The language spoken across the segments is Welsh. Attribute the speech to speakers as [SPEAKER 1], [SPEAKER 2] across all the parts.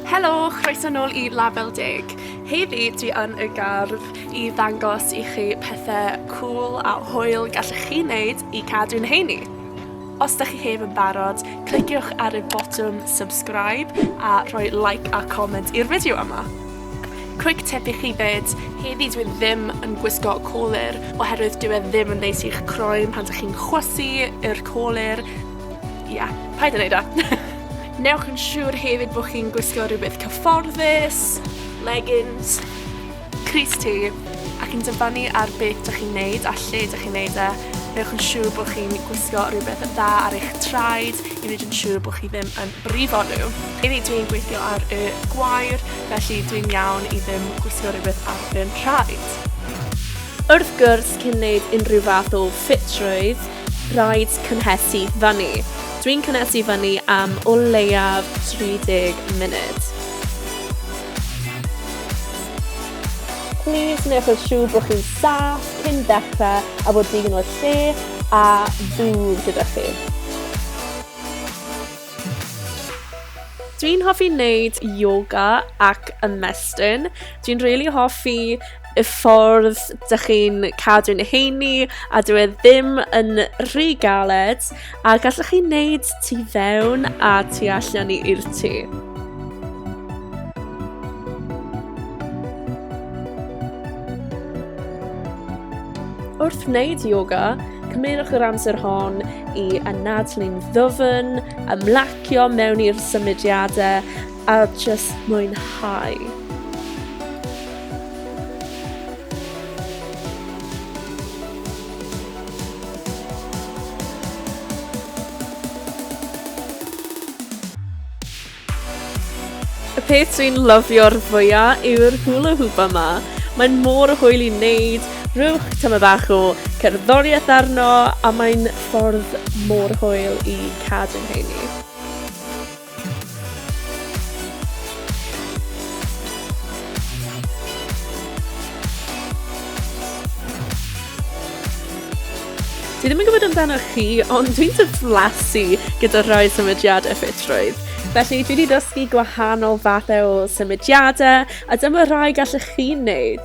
[SPEAKER 1] Helo, chroeso nôl i Label Deg. Heddi dwi yn y gardd i ddangos i chi pethau cool a hwyl gallech chi wneud i cadw'n heini. Os da chi heb yn barod, cliciwch ar y botwm subscribe a rhoi like a comment i'r fideo yma. Quick tip i chi fyd, heddi dwi ddim yn gwisgo colur oherwydd dyw e ddim yn neis i'ch croen pan dych chi'n chwysu yr colur Ia, yeah, paid yn neud o. Newch yn siŵr hefyd bod chi'n gwisgo rhywbeth cyfforddus, leggings, Cris T, ac yn dyfanu ar beth dych chi'n neud a lle dych chi'n neud e, newch yn siŵr bod chi'n gwisgo rhywbeth yn dda ar eich traed i wneud yn siŵr bod chi ddim yn brifo nhw. I fi dwi'n gweithio ar y gwair, felly dwi'n iawn i ddim gwisgo rhywbeth ar fy nhraed. Wrth gwrs, cyn wneud unrhyw fath o ffitrwydd, Rhaid cynhesu fyny. Dwi'n cynhesu fyny am o leiaf 30 munud. Plîs newch yn siŵr bod chi'n saff cyn dechrau a bod digon o lle a ddŵr gyda chi. Dwi'n hoffi wneud yoga ac ymestyn. Dwi'n rili hoffi y ffordd dych chi'n cadw'n heini a dwi e ddim yn rhy galed a gallwch chi wneud tu fewn a tu allan i'r tŷ. Wrth wneud yoga, cymerwch yr amser hon i anadlu'n ddwfn, ymlacio mewn i'r symudiadau a jyst mwynhau. Y peth dwi'n lyfio'r fwya yw'r hula hoop yma. Mae'n mor hwyl i wneud, rhywch tyma bach o cerddoriaeth arno a mae'n ffordd mor hwyl i cadw'n heini. Dwi ddim yn gwybod amdano chi, ond dwi'n diflasu gyda rhoi symudiadau ffitrwydd. Felly dwi wedi dysgu gwahanol fathau o symudiadau a dyma rhai gallwch chi'n neud.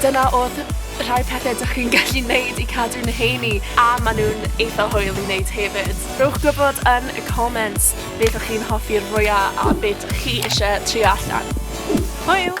[SPEAKER 1] Dyna odd rhai pethe dych chi'n gallu neud i cadw nhw heini, a ma' nhw'n eitha hwyl i neud hefyd. Rhowch gwybod yn y comments beth o'ch chi'n hoffi'r fwya a be dych chi isie trio allan. Hwyl!